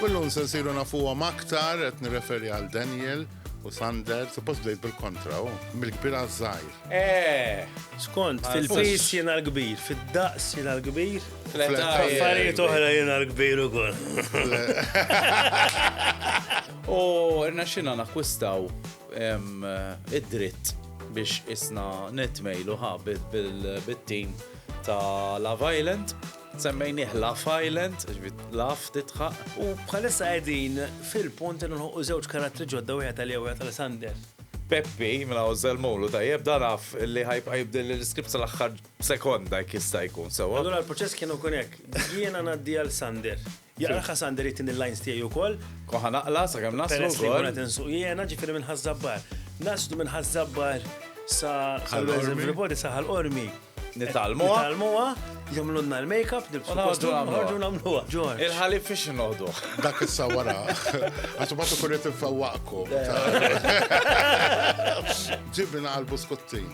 Kullum se nsiru nafuhom aktar qed nirreferi għal Daniel u Sander, suppost bdejt bil-kontra, u mill-kbir għaż-żgħir. Eh, Skont, fil-pis jiena l-kbir, fid-daqs jiena l-kbir, affarijiet oħra jiena l-kbir ukoll. U rnexxina nakkwistaw Hemm id-dritt biex isna nitmejlu ha bit-tim ta' Love Island. Semmejnieh Laff Island, ġifieri laff tidħaq. U bħalissa qegħdin fil-punt li nħolqu żewġ karattri ġodda wieħed għalija u wieħed għal Sander. Peppi, minn hawn żelmulu tajjeb, dan af li ħa jibqa' jibdel l-iskript sal-aħħar sekonda jekk jista' jkun sewwa. Allura l-proċess kien ikun hekk, jiena ngħaddi għal Sander. Jaqra Ħasander jittin il-lines tiegħi wkoll. U ħanaqla sakemm naslu. Peress li qed insuq jiena ġifieri minn Ħaż-Żabbar. Naslu minn Ħaż-Żabbar sa Everybody sa ħal-qormi. Nitalmuha. Nitalmuha, jagħmlulna l-makeup, nibsu ħorġu nagħmluha. Ġorġ. Il-ħalib fiex noħdu. Dak issa wara. Għax ma tkun qed infewwaqkom. Ġibna għal buskuttin.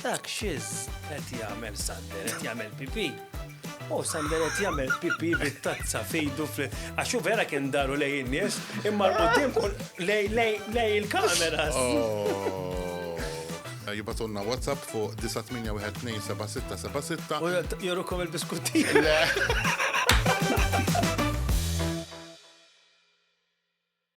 Dak xiz qed jagħmel Sander, qed jagħmel pipi. U Sander qed jagħmel pipi bit-tazza fejdu fl għax hu vera kien daru lej in-nies, imma l-qudiem lej lej lej il-kameras. Oh. Jibatunna WhatsApp fuq 9812776. U jorukom il-biskutti.